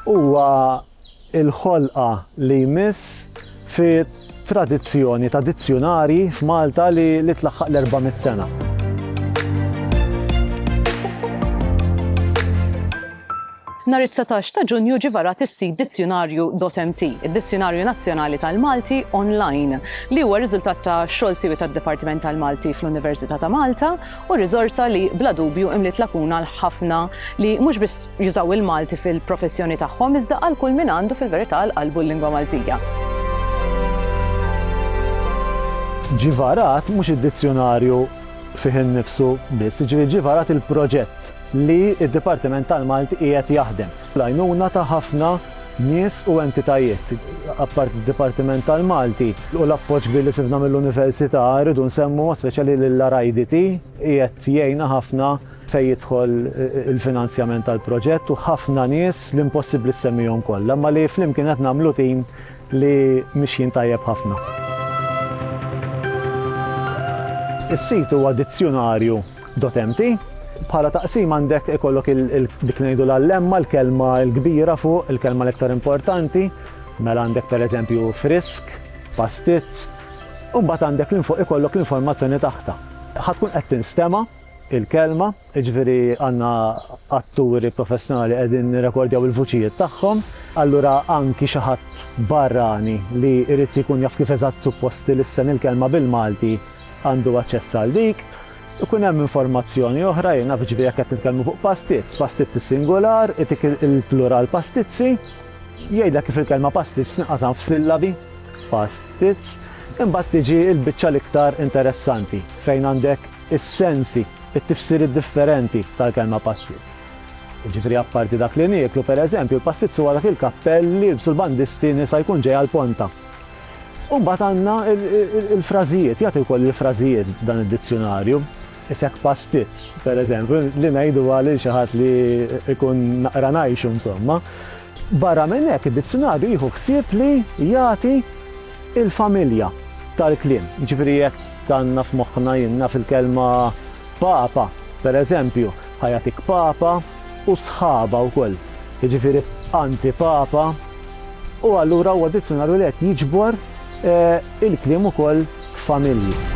Huwa l-ħolqa li jmiss fi tradizzjoni ta' dizzjunarji f'Malta li tlaħħaq l-400 sena. Nhar it-19 ta' Ġunju ġie varat is-sit dizzjunarju.mt, id-Dizzjunarju Nazzjonali tal-Malti online, li huwa riżultat ta' xogħol siwi tad-Dipartiment tal-Malti fl-Università ta' Malta u riżorsa li bla dubju imliet lakuna għal ħafna li mhux biss jużaw il-Malti fil-professjoni tagħhom iżda għal kull min għandu fil-verità għal qalbu l-lingwa Maltija. Ġie varat mhux id-dizzjunarju fih innifsu biss, jiġifieri ġie varat il-proġett li d-Dipartiment tal-Malti qiegħed jaħdem. Bl-għajnuna ta' ħafna nies u entitajiet, apparti d-Dipartiment tal-Malti, u l-appoġġ kbir li sibna mill-Università, irridu nsemmu b'mod speċjali lill-RIDT, qiegħed jgħinna ħafna fejn jidħol il-finanzjament tal-proġett, u ħafna nies li impossibbli ssemmihom kollha, imma li flimkien qed nagħmlu tim li mixjin tajjeb ħafna. Is-sit huwa dizzjunarju Dot empty. Bħala taqsim għandek ikollok dik ngħidu l-allemma, l-kelma l-kbira fuq, il-kelma l-iktar importanti, mela għandek pereżempju frisk, pastizz, u mbagħad għandek l fuq ikollok l-informazzjoni taħta. Ħatkun qed tinstema' il-kelma, ġviri għanna atturi professjonali għedin rekordjaw il-vuċijiet tagħhom, allura anki xaħat barrani li irrit jkun jaf kif eżatt supposti l-issen il-kelma bil-Malti għandu aċċess għal dik, ikun hemm informazzjoni oħra, jiena jiġifieri jekk qed nitkellmu fuq pastizz, pastizz is-singular, itik il-plural pastizzi, jgħidlek kif il-kelma pastizz tinqasam f'sillabi, pastizz, imbagħad tiġi l-biċċa l-iktar interessanti fejn għandek is-sensi, it-tifsiri differenti tal-kelma pastizz. Ġifri apparti dak li nieklu, per eżempju, il-pastizz huwa dak il-kappell li jibsu l-bandisti nisa jkun ġej għal ponta U mbagħad għandna l-frażijiet, jagħti wkoll il-frażijiet dan id-dizzjunarju. Isek pastizz, per eżempju, li ngħidu għal xi ħadd li jkun naqra ngħixu insomma. Barra minn hekk id-dizzjunarju jieħu ħsieb li jagħti il-familja tal-kliem. Ġifieri jekk tanna f'moħħna jinna fil-kelma papa, per eżempju, ħajatik papa, u sħabha wkoll, jiġifieri antipapa, u allura huwa dizzjunarju li qed jiġbor il-kliem ukoll familji.